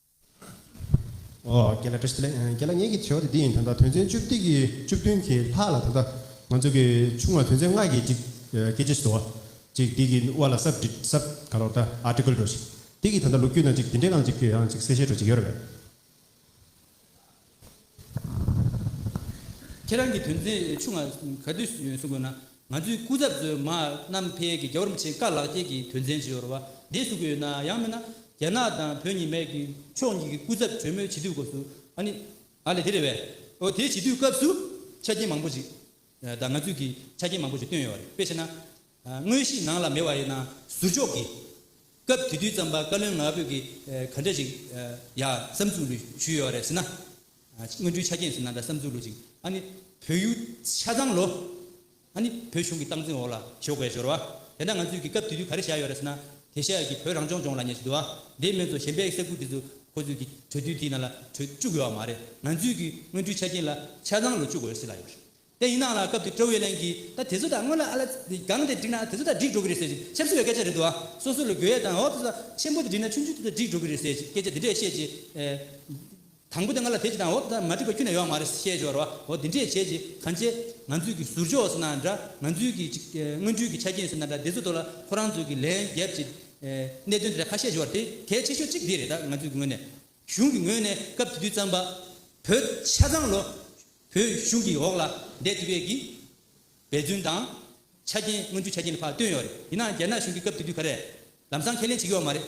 རྒྱལ་བླ་བཀྲ་ཤིས་རྒྱལ་བླ་ངེད་ཀྱི་དྲི་བ་དེ་འདི་ཡིན་ད་ལྟ་དོན་ཚན་བཅུ་བདུན་གྱི་བཅུ་བདུན་གྱི་ལྷག་ལ་ད་ལྟ་ང་ཚོ་གི་ཆུང་མ་དོན་ཚན་ལྔ་གྱི་གཅིག་སྐད་ཆ་བཟོ་བ་གཅིག་འདི་གི་དབར་ལ་སབ་བྲིས་སབ་ག་རོག་ད Article འགྲོ་ཞིག་འདི་གི་ད་ལྟ་ལོ་རྒྱུས་ནང་གཅིག་འདི་འདྲའི་ནང་གཅིག་གཅིག་གསལ་བཤད་འགྲོ་གཅིག་ཡོད་རེད།
ཁྱེད་རང་གི་དོན་ཚན་བཅུ་ལྔ་ག་དུས་སུ་ཡོད་གསུང་དགོས་ན་ང་ཚོའི་སྐུ་ཚབ་གཙོས་མ་གནམ་འཕེལ་གྱི་རྒྱ་བོར་མཆེད་བཀའ་ལགས་ཁྱེད་ཀྱི་དོན་ཚན་བཅུ་ཡོར་བ་འདི་གསུང་གི་ཡོད་ན་ཡང་མིན་ན་རྒྱ་ནག་དང་བོད་གཉིས་མེད་ཀྱི་ཕྱོགས་གཉིས་ཀྱི་སྐུ་ཚབ་གྲོས་མོལ་བྱེད་དུས་སྐོར་སུ་ཨ་ནི་ཨ་ལེ་དེ་རེད་བས་འོ་དེ་བྱེད་དུས་སྐབས་སུ་ཆ་རྐྱེན་མང་པོ་ཞིག་དང་ང་ཚོས་ཀྱི་ཆ་རྐྱེན་མང་པོ་ཞིག་བཏོན་ཡོད་རེད་དཔེ་བྱས་ན། དངོས་གཞི་ནང་ལ་མེད་བ་ཡིན་ན་ཟུར་འཇོག་གིས། སྐབས་དེ་དུས་བརྩམས་པ་བཀའ་བློན་ང་ཕོད་ཀྱིས་ག་འདྲ་ཞིག་ཡ་བསམ་ཚུགས་ལུས་ཞུས་ཡོད་རེད་ཟེར་ན། སྔོན་འགྲོའི་ཆ་རྐྱེན་ཟེར་ན་འདྲ་བསམ་ཚུགས་ལུས་ཅིག་ཨ་ནི་བོད་ཡུལ་ཆ་ཚང་ལོ། ཨ་ནི་བོད་གཞུང་གི་སྟངས་འཛིན་འོག་ལ་ཞོགས་པའི་སྦྱོར་བ། དེ་འདྲ་ང་ཚོས་ཀྱིས་སྐབས་དེ་དུས་ག་རེ་བྱས་ཡོད་རེད་ཟེར་ན། དེ་བཞག་གིས་བོད་རང་སྐྱོང་ལྗོངས་ལ་ཉེ་ཞིག་འདུག་ཨ། དེ་སྨན་ཚོ་གཞན་པའི་ས་ཁུལ་དེ་ཚོ་ཁོ་ཚོས་ཀྱིས་གྲོས་བསྡུར་དེའི་ནང་ལ་གྲོས་བཅུག་ཡོད་བ་མ་རེད། ང་ཚོས་ཀྱིས་སྔོན་འགྲོའི་ཆ་རྐྱེན་ལ་ཆ་ཚང་ལོ་བཅུག་འོས་སྲིད་ལ་ཡོད་རེད། དེ་ཡིན་ནའང་ལ་སྐབས་དེ་ཀྲོའུ་ཝེ་ལན་གྱིས་ད་དེ་ཚོ་དག་སྔོན་ལ་ཨ་ལ་སྒང་དེར་བསྒྲིགས་ན་དེ་ཚོ་དག་འགྲིག་འགྲོ་གི་རེད་ཟེར་ཞིང་ཆབ་སྲིད་པའི་སྐད་ཆ་རེད་འདུག་ཨ། སོ་སོ་ལ་དགོས་ཡས་དང་ཨོ་ཙི་ཙི་ལ་ཆེན་པོ་དེ་འགྲིགས་ན་ཆུང་ཆུང་དེ་དག་འགྲིག་འགྲོ་གི་རེད་ཟེར་ཞིང་སྐད་ཆ་འདི་འདྲས་བཤད་རྗེས། དང་པོ་དེ་ང་ལ་དེ་ཅི་དང་ཨོ་ཙི་ཙི་མ་འགྲིག་པ་ཁྱོད་ནས་ཡོང་མ་རེད་ཟེར་བཤད་ཞོར་ཨོ་འདི་འདྲས་བྱས་རྗེས་གང་ཆེ། ང་ཚོས་ཀྱི་ཟུར་ཕྱོགས་སུ་ན་འདྲ་ང་ཚོའི་ཀྱི་སྔོན་འགྲོའི་ཀྱི་ཆ་རྐྱེན་སུ་ན་འདྲ་དེ་ཚོ་དོར་ལ་ཁོ་རང་ཚོས་ཀྱི་ལན་རྒྱབ་ཀྱི། གནད་དོན་འདི་འདྲ་ཁ་བཤད་ཞོར་དེ་གལ་ཆེ་ཤོས་གཅིག་འདི་རེད་ད་ང་ཚོའི་ཀྱི་ངོས་ནས། གཞུང་གི་ངོས་ནས་སྐབས་དེ་དུས་བརྩམས་པ། བོད་ཆ་ཚང་ལོ། བོད་གཞུང་གིས་འོག་ལ་འདས་དུས་བོད་ཀྱི་འབད་བརྩོན་དང། ཆ་རྐྱེན་མངོན་འགྱུར་ཆ་རྐྱེན་ལ་བག་སྟོན་ཡོད་རེད། ཡིན་ནའང་རྒྱ་ནག་གཞུང་གིས་སྐབས་དེ་དུས་ག་རེ། ལམ་སང་ཁས་ལེན་བྱེད་ཀྱི་ཡོད་མ་རེད།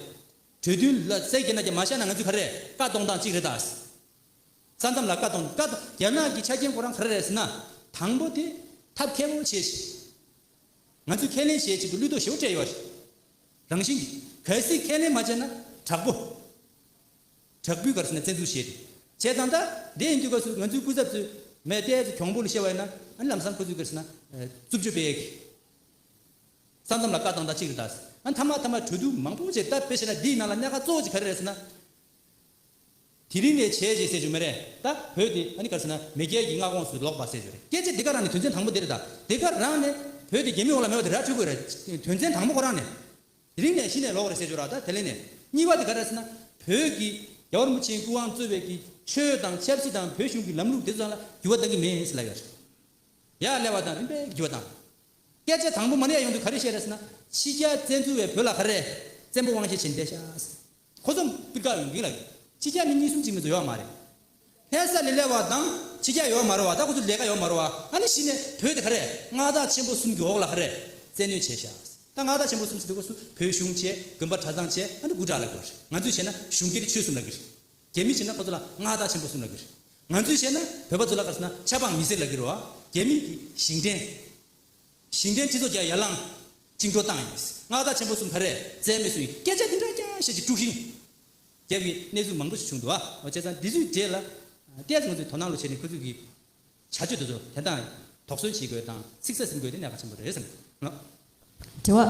གྲོས་མཐུན་ལ་བསལ་རྒྱ་ནག་རྒྱ་མ་བཞག་ན་ང་ཚོས་ག་རེ་བཀའ་གཏོང་སྟངས་གཅིག་རེད་ད། ས་མཚམས་ལ་བཀའ་གཏོང་བཀའ་གཏོང་རྒྱ་ནག་གི་ཆ་རྐྱེན་ཁོ་རང་ག་རེ་རེད་ཟེར་ན། དང་པོ་དེ་ཐབས་མཁས་པོ་བྱས་ཤིག། ང་ཚོས་ཁས་ལེན་བྱེད་ཆེད་དུ་གླུད་ལྟོ་ཞོ་སྤྲད་ཡོད་རེད། རང་བཞིན་གྱིས་གལ་སྲིད་ཁས་ལེན་མ་བྱས་ན་དྲག་པོ། དྲག་པོའི་སྐབས་སུ་ན་བཙན་འཛུལ་བྱས་ཏེ། བྱས་ཙང་ད་ལྟའི་ཡིན་དུས་སྐབས་སུ་ང་ཚོའི་སྐུ་ཚབ་ཚོས་མེད་བལྟས་ཚོ་གྱོང་པོ་ལ་བཤད་བ་ཡིན་ན་ཨ་ནི་ལམ་སང་ཁོ་ཚོའི་སྐབས་སུ་ན་རྩུབ་སྤྱོད་སྤེལ་གི། ས་མཚམས་ལ་བཀའ་བཏང་ད་ཅིག་རེད་ད་ཟེར་ཨ་ནི་མཐའ་མ་མཐའ་མ་གྲོས་བསྡུར་མང་པོ་བྱས་ད་དཔེ་བྱས་ན་འདིའི་ནང་ལ་གནད་ཁ་གཙོ་བོ་གཅིག་ག་རེ་རེད་ཟེར་ན། དེ་རིང་ནས་བྱས་རྗེས་གསལ་བྱུང་མེད་རེད་ད་བོད་དེ་ཨ་ནི་སྐབས་སུ་ན་མེས་རྒྱལ་གྱི་མངའ་ཁོངས་སུ་ལོག་པ་གསལ་བྱུང་རེད་སྐད་ཆ་འདི་ག་རང་ནས་དོན་ཚན་དང་པོ་འདི་རེད་ད་དེ་ག་རང་ནས་བོད་དེ་རྒྱལ་མི་འོག་ལ་མེད་པ་དེ་ར་འཕྲོད་དགོས་རེད་དོན་ཚན་དང་པོ་ཁོ་རང་ནས། དེ་རིང་ནས་གཞི་ནས་ལོག་རེད་ཟེར་ཞོར་ར་ད་དེ་ལེན་ནས་གཉིས་པ་དེ་ག་རེད་ཟེར་ན། བོད་ཀྱི། རྒྱ་བར་མུ་ཆེན་སྐུ་དབང་གཙོས་བས་ཀྱི་ཆོས་དང་ཆབ་སྲིད་དང་བོད་གཞུང་གི་ལམ་ལུགས་དེ་ཚོ་ཚང་ལ་འགྱུར་བ་གཏང་གི་མེད་ཟེར་ལབ་ཡོད་རེད། ཡ་ཀླད་བ་དང་རིམ་པས་འགྱུར་བ་བཏང། སྐད་ཆ་དང་པོ་མ་ནས་ཡོང་དུས་ག་རེ་བཤད་རེད་ཟེར་ན། ཕྱི་རྒྱལ་བཙན་འཛུལ་བས་བོད་ལ་ག་རེ། བཙན་པོ་དབང་ཆེ་བྱེད་འདས་ཤག་ཟེར། ཁོ་ཚོ་སྤུས་ཀ་ཡོང་གི་ལ་ཡོད། ཕྱི་རྒྱལ་མི་གཉིས་གསུམ་གཅིག་མིན་དུ་ཡོང་བ་མ་རེད། ཕལ་ས་ལི་ལེ་བ་དང་ཕྱི་རྒྱལ་ཡོང་མ་རུང་བ་དང་ཁོ་ཚོ་ལས་ཀ་ཡོང་མ་རུང་བ་ཨ་ནི་གཞི་ནས་བོད་དེ་ག་རེད་མངའ་བདག་ཆེན་པོ་གསུམ་གྱི་འོག་ལ་ཧ་རེ་བཙན་གནོད་བྱས་ཤག་ད་མངའ་བདག་ཆེན་པོ་གསུམ་ཟེར་དུས་ཁོ་ཚོ་བོད་གཞུང་བྱས་དགོན་པ་གྲྭ་ཚང་བྱས་ཨ་ནི་དགུ་དྲག་ལ་དགོས་རེད་ང་ཚོས་བྱས་ན་གཞུང་སྒེར་ཆོས་གསུམ་ལ་དགོས་རེད་རྒྱ་མི་བྱས་ན་ཁོ་ཚོ་ལ་མངའ་བདག་ཆེན་པོ་གསུམ་ལ་དགོས་རེད་ང་ཚོས་བྱས་ན་བོད་པ་ཚོ་ལ་ག་ཚོད་ན་ཆབ་འབངས་མི་སེར་ལ་དགོས་རེད་བ་རྒྱ་མི་གི་ཞིང་བྲན། ཞིང་བྲན་སྤྱི་ཚོགས་བརྒྱ་ཡར་ལངས། བཅིངས་འགྲོལ་བཏང་ཡིན། མངའ་བདག་ཆེན་པོ་གསུམ་བྷ་རས་བཙན་མེད་སུ་ཡིན་སྐད་ཆ་འདི་འདྲ་ཀྱང་བཤད་ཅི་དཀྲུག་ཤིང། རྒྱབ་ཀྱི་གནས་ཚུལ་མང་པོ་ཞིག་བྱུང་འདུག་ཨ། བྱས་ཙང་འདི་ཚོའི་རྗེས་ལ། ཏེས་ང་ཚོས་དོ་སྣང་ལོ་བྱས་ནས་ཁོ་ཚོས་ཀྱི། བྱ་སྤྱོད་དེ་ཚོ་དན་དང། དོགས་ཟོན་བྱེད་དགོས་དང་ཚིག་ཟ་ཟིན་དགོས་དེ་གནད་འགག་ཆེན་པོ་རེད་བསམ། དྲི་
བ།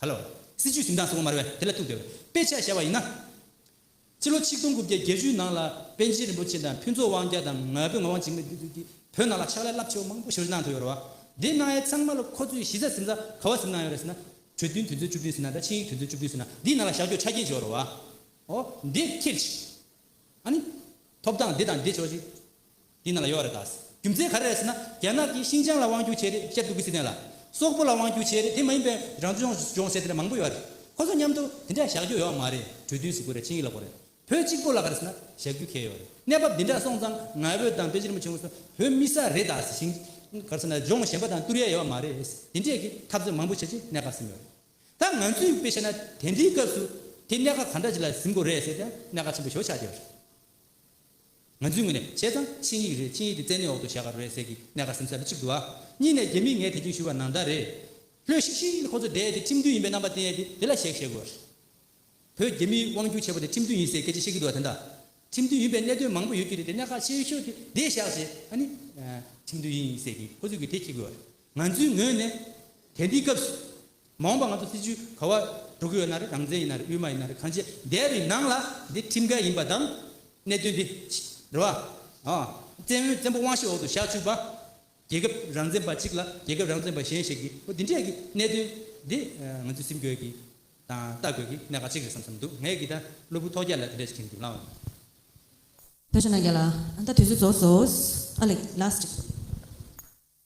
ག་ལོ། སྲིད་ཇུས་གཟིམས་ཁང་སོགས་མར་བས་དེ་ལ་ཐུག་འདོད། དཔེ་ཆ་བཞག་པ་ཡིན་ན། ཕྱི་ལོ་ཆིག་སྟོང་དགུ་བརྒྱ་བརྒྱད་ཅུའི་ནང་ལ་པཎ་ཆེན་རིན་པོ་ཆེ་དང་ཕུན་ཚོགས་དབང་རྒྱལ་དང་ང་ཕོད་ངག་དབང་འཇིགས་མེད་བདུད་འདུལ་གྱིས་བོད་ནང་ལ་ཕྱག་ལས་རླབས་ཆེ་བ་མང་པོ་ཞོར་གནང་ཐུབ་ཡོད་རེད་བ། དེ་གནང་ཡས་ཚང་མ་ལ་ཁོ་ཚོས་གཞི་རྩ་གཟིམས་ས་ག་བ་གཟིམས་གནང་ཡོད་རེད་ཟེར་ན། གྲོས་མཐུན་དུས་ཚོད་བཅུ་བདུན་ཟིན་ན་དང་ཆིངས་ཡིག་དུས་ཚོད་བཅུ་བདུན་ཟིན་ན་འདིའི་ནང་ལ་བཞག་རྒྱུར་ཆ་རྐྱེན་ཅི་ཡོད་རེད་བ། འོ། འདི་ཁྱེར་ཅིག། ཨ་ནི། ཐོབ་ཐང་འདི་དང་འདི་བྱོ་ཅིག། དེ་ནང་ལ་ཡོད་རེད་ད། རྒྱུ་མཚན་ག་རེ་རེད་ཟེར་ན་རྒྱ་ནག་གིས་ཤིང་ཅང་ལ་དབང་བསྒྱུར་བྱས་རེད་ཤེད་འདུག་གི་སི་ཐན་ལ། སོག་པོ་ལ་དབང་བསྒྱུར་བྱས་རེད་དེ་མ་ཡིན་པའི་རང་སྐྱོང་ལྗོངས་ཟེར་དེ་འདྲ་མང་པོ་ཡོད་རེད། ཁོ་ཚོ་མཉམ་དུ་དེ་འདྲ་བཞག་རྒྱུ་ཡོད་མ་རེད་གྲོས་མཐུན་ཟེར་དགོས་རེད་ཆིངས་ཡིག་ལ་གོ་རེད། བོད་གཅིག་པོ་ལ་ག་རེ་ཟེར་ན་བཞག་རྒྱུ་ཁེལ་ཡོད་རེད། གནས་བབ་འདི་འདྲ་སོང་ཙང་ང་བོད་དང་བོད་རྗེ་རིན་པོ་ཆེ་སྐུ་སྲོང་བོད་མི་ས་རེད་ད་ཤིང་ཅང་ག་རེ་ཟེར་ན་ལྗོངས་གཞན་པ་དང་བསྟུར་ཡས་ཡོད་མ་རེད། དེ་འདྲས་ཀྱི་འཐབ་རྩོད་མང་པོ་བྱེད་ཆེད་གནད་འགག་ཟིན་ཡོད་རེད། ད་ང་ཚོས་དཔེ་བཤད་ན་དེ་འདྲའི་སྐབས་སུ་དེ་གནད་འགག་ག་འདྲ་ཞིག་ལ་ཟིན་དགོས་རེད་ཟེར་དེའང་གནད་འགག་ཆེན་པོ་ཞོ་ཆགས་ཀྱི་ཡོད་རེད། ང་ཚོའི་ངོས་ནས་བྱས་ཙང་ཆིངས་ཡིག་རེད་ཆིངས་ཡིག་དེ་བཙན་གནོན་འོག་ཏུ་བཞག་ག་རུ་རེད་ཟེར་གི་གནས་སྐར་སེམས་གསལ་ལོ་གཅིག་འདུག་ཨ། གཉིས་ནས་རྒྱ་མིས་ངས་དེ་རྒྱུན་ཞུས་པ་ནང་ད་རེད། ལྷོད་ཤིག་ཤིག་ཁོ་ཚོ་བསྡད་དེ་ཁྲིམས་མཐུན་ཡིན་པའི་རྣམ་པ་བསྟན་ཡས་དེ་དེ་ལ་གཞེག་བཞེག་དགོས། བོད་རྒྱ་མིའི་དབང་སྒྱུར་བྱས་པ་དེ་ཁྲིམས་མཐུན་ཡིན་ཟེར་སྐད་ཆ་བཤད་གི་འདུག་ཨ་དེ་འདྲ། ཁྲིམས་མཐུན་ཡིན་པའི་གནད་དོན་མང་པོ་ཡོད་ཀྱི་རེད་དེ་གནས་ཁ་ཤས་ཤོས་དེ་དེ་བཞག་བྱས་ཨ་ནི། ཁྲིམས་མཐུན་ཡིན་ཟེར་གི་ཁོ་ཚོས་གི་དེ་གྱིས་དགོས་རེད། ང་ཚོའི་ངོས་ནས་དེ་འདི་སྐབས་སུ་མ་འོངས་པ་ང་ཚོ་སྲིད་བྱུས་ག་བ་འགྲོ་གི་ཡོད་ན་རེད་རང་བཙན་ཡིན་ན་རེད་དབུས་མ་ཡིན་ན་རེད་གང་བྱས་འདས་པའི་ནང་ལ་འདི་ཁྲིམས་འགལ་ཡིན་པ་དང་གནད་དོན་འདི་རེད་བ། བཙན་བྱོལ་བཙན་པོ་དབང་ཤེད་འོག་ཏུ་བཞག་ཆུག་པ། རྒྱལ་ཁབ་རང་བཙན་པ་གཅིག་ལ་རྒྱལ་ཁབ་རང་བཙན་པ་གཞན་ཞིག་གིས་འོ་འདི་འདྲས་ཀྱི་གནད་དོན་འདི་ང་ཚོས་སེམས་དགོས་ཀྱི་དང་ལྟ་དགོས་ཀྱི་གནད་འགག་གཅིག་རེད་བསམ་བསམ་འདུག་ངས་ཀྱི་ད་སློབ་བུ་ཐོག་རྒྱ་ལ་དེ་འདྲས་ཞིག་ཁྱེར་མི་འདུག་ལགས།
ད་ཞོ་ན་རྒྱ་ལ་ད་དུས་ཚོད་རྫོགས་སོ། ཨ་ལེགས། ལཱས་ཀྱི།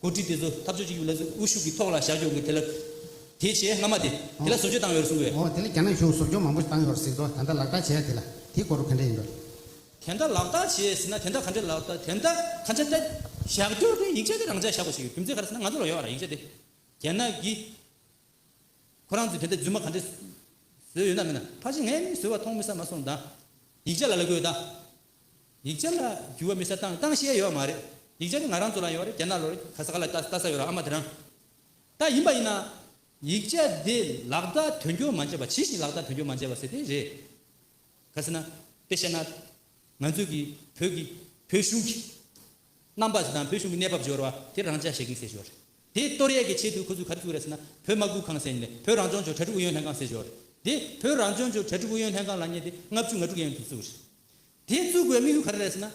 འགོ་ཁྲིད་དེ་ཚོ་འཐབ་རྩོད་བྱེད་རྒྱུ་ལ་དབུ་བཞུགས་ཀྱི་ཐོག་ལ་བཞག་ཆོག་གི་དེ་ལ། དེ་བྱས་སྔ་མ་དེ། དེ་ལ་བཟོ་བཅོས་བཏང་ཡོད་རེད་གསུངས་པས། འོ་དེ་ལ་རྒྱ་ནག་གཞུང་བཟོ་བཅོས་མང་པོ་
བཏང་ཡོད་རེད་གཟིགས་འགྲོ་ད་ལྟ་ལག་བསྟར་བྱས་དེ་ལ་དེ་གོ་རོ་ག་འདྲ་ཡིན་པ། དེ་འདྲ་ལག་
བསྟར་བྱས་ཟིན་ན་དེ་འདྲ་ག་འདྲ་ལག་བསྟར་དེ་འདྲ་ག་འདྲ་ལྟ། བཞག་རྒྱུར་དེ་ཡིག་ཆ་དེ་རང་འཇགས་བཞག་པ་ཞིག་ཡོད་རྒྱུ་མཚན་ག་རེ་ཟེར་ན་ང་ཚོ་ལ་ཡོད་པ་རང་ཡིག་ཆ་དེ། རྒྱ་ནག་གིས། ཁོ་རང་ཚོས་དེ་འདྲ་རྫུན་མ་ག་འདྲ། བཟོས་ཡོད་ན་མིན་ན་ཕར་ཕྱིན་ངས་མིན་བཟོས་བ་མཐོང་མི་ས་མ་སོང་ད། ཡིག་ཆ་ལ་ལ་དགོས་ད། ཡིག་ཆ་ལ་འགྱུར་བ་མི་ས་དང་སྟངས་བཤད་ཡོད་མ་རེད་ཡིག་ཆ་ནི་ང་རང་ཚོ་ལ་ཡོད་རེད་རྒྱ་ནག་ལོ་རེད་ཁ་ས་ག་ལ་ལྟ་ས་ཡོད་ར་ཨ་མ་དེ་རང་ལྟ་ཡིན་པ་ཡིན་ན་ཡིག་ཆ་དེ་ལག་བསྟར་དོན་འཁྱོལ་མ་བྱས་པ་ཇི་བཞིན་ལག་བསྟར་དོན་འཁྱོལ་མ་བྱས་པ་ཟེར་དེ་རེད་ག་ཟེར་ན་དཔེ་བཤད་ན་ང་ཚོས་ཀྱི་བོད་ཀྱི་བོད་གཞུང་གི་རྣམ་པ་དང་བོད་གཞུང་གི་གནས་བབ་སྦྱོར་བ་དེ་རང་འཇགས་བྱེད་མཁན་ཟེར་ཞོར་རེད་དེ་གཏོར་ཡས་ཀྱི་ཆེད་དུ་ཁོ་ཚོས་ག་རེ་བྱུག་རེད་ཟེར་ན་བོད་དམག་སྒུག་ཁང་ཟེར་ནས་བོད་རང་སྐྱོང་ལྗོངས་གྲ་སྒྲིག་ཨུ་ཡོན་ལྷན་ཁང་ཟེར་ཞོར་རེད་དེ་བོད་རང་སྐྱོང་ལྗོངས་གྲ་སྒྲིག་ཨུ་ཡོན་ལྷན་ཁང་ལ་ཉེ་སྟེ་ལྔ་བཅུ་ང་དྲུག་ཡན་དུ་བཙུགས་རེད། དེ་བཙུགས་དགོས་དམིགས་ཡུལ་ག་རེ་རེད་ཟེར་ན།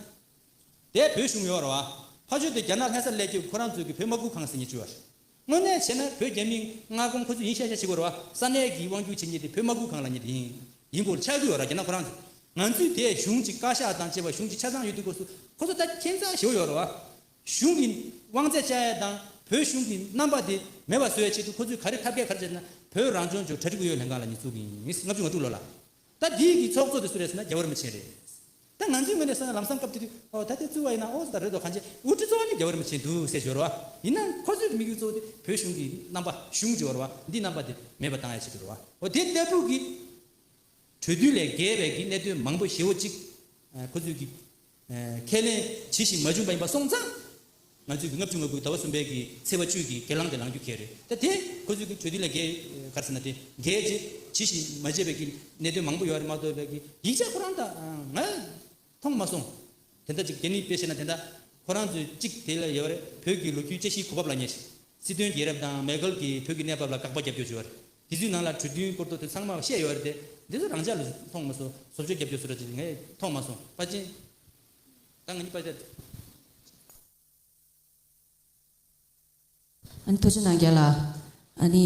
དེ་བོད་གཞུང་ཡོད་རེད་བ། ཕ་ཆོས་དེ་རྒྱ་ནག་ལྷན་ས་སླེ་རྒྱུ་ཁོ་རང་ཚོའི་གི་བོད་མ་སྒུག་གང་ཟེར་ཉེ་ཆུ་བ་རེད། དངོས་གནས་བྱས་ན་བོད་རྒྱ་མི་མངའ་ཁོངས་ཁོ་ཚོས་ཡིན་ཤ་ཤ་བྱེད་དགོས་རེད་བ་ས་གནས་གི་དབང་སྒྱུར་བྱེད་ཉེ་དེ་བོད་མ་སྒུག་གང་ལ་ཉེ་དེ་ཡིན་ཡིན་སྐོར་ཆགས་རྒྱུ་ཡོད་རེད་རྒྱ་ནག་ཁོ་རང་ཚོས་ང་ཚོས་དེ་གཞུང་གཅིག་བཀའ་ཤག་དང་བཅས་པ་གཞུང་གཅིག་ཆ་ཚང་ཡོད་དུས་སྐོར་སུ་ཁོ་ཚོ་ད་ཁྱེད་ཚ་ཞེ་བོ་ཡོད་རེད་བ། གཞུང་གི་དབང་ཚད་བཅའ་ཡས་དང་བོད་གཞུང་གི་རྣམ་པ་དེ་མེད་པ་བཟོ་ཡས་ཆེད་དུ་ཁོ་ཚོས་ག་རེ་ཐབས་སྐད་ག་རེ་བྱས་ཟེར་ན་བོད་རང་ལྗོངས་ཇོ་བྲ་ཁྲི་དགུ་ཡོད་ལྷན་གང་ལ་ཉེ་བཙུགས་གི་ཡིན་ལྔ་བཅུ་ང་དྲུག་ལོ་ལ་ད་འདིའི་གི་ཚོགས་གཙོ་དེ་སུ་རེད་ཟེར་ན་རྒྱ་བོད་རིན་པོ་ཆེ་རེད། ད་ང་ཚོའི་ངོས་ནས་བསམ་ན་ལམ་སང་སྐབས་དེ་དུས་ཨོ་ད་དེ་རྩོད་བ་ཡིན་ན་ཨོ་ཟེར་ད་རེད་དོ་གང་བྱས་དབུ་ཁྲིད་གཙོ་བོ་ནི་རྒྱ་བོད་རིན་པོ་ཆེ་འདུག་ཟེར་བྱོས་རོ། ཡིན་ན་ཁོ་ཚོའི་གི་དམིགས་ཡུལ་གཙོ་བོ་དེ་བོད་གཞུང་གི་རྣམ་པ་གཞུང་བྱོས་རོ། འདིའི་རྣམ་པ་དེ་མེད་པ་བཏང་ཡ་བྱེད་དགོས་རོ། ཨོ་དེ་ལྟ་བུ་གི་གྲོས་མཐུན་ལས་འགལ་བའི་གི་གནད་དོན་མང་པོ་ཞེ་བོ་གཅིག་ཁོ་ཚོའི་གི་ཁས་ལེན་ཇི་བཞིན་མ་བྱུང་བ་ཡིན་པ་སོང་ཙང། ང་ཚོས་ཀྱི་ལྔ་བཅུ་ང་དགུའི་ཟླ་བ་གསུམ་པའི་ཀྱི་ཚེས་བ་བཅུའི་ཀྱི་གྱེར་ལངས་དེ་ལངས་རྒྱུ་གལ་རེད་ད་དེ་ཁོ་ཚོས་ཀྱི་གྲོས་མཐུན་ལས་འགལ་གར་ཟེར་ན་དེ་འགལ་རྗེས་ཇི་བཞིན་མ་བྱས་པའི་ཀྱི་གནད་དོན་མང་པོ་ཡོད་རེད་མ་གཏོགས་པའི་ཀྱི་ཡིག་ཆ་ཁོ་རང་ད་ང་མཐོང་མ་སོང། དེ་འདྲ་ཅིག་གྱེར་ནི་དཔེ་བཤད་ན་དེ་འདྲ་ཁོ་རང་ཚོས་གཅིག་དེ་ལ་ཡོད་རེད་བོད་ཀྱི་ལོ་རྒྱུས་དཔྱད་གཞིའི་གོ་བབ་ལ་ཉེ་ཞིང་སྲིད་དོན་རྒྱལ་རབས་དང་མེས་རྒོལ་གྱི་བོད་ཀྱི་གནས་བབ་ལ་དགག་པ་རྒྱབ་སྐྱོར་བྱས་པ་རེད། དེ་དུས་ནང་ལ་གྲོས་མཐུན་སྐོར་ཐོག་དེ་ཚང་མ་བཤད་ཡོད་རེད་དེ། འདི་ཚོ་རང་ཅག་ལ་མཐོང་མ་སོང། བཟོ་བཅོས་རྒྱབ་སྐྱོར་བཟོ་གྲྭ་ཅིག་ངས་མཐོང་མ་སོང། པ་ཅིན། ད་ང་གཉིས་པ་ཅག་ཅིག། ཨ་ནི་ཐུགས་ཆེ་གནང་རྒྱ་
ལ། ཨ་ནི།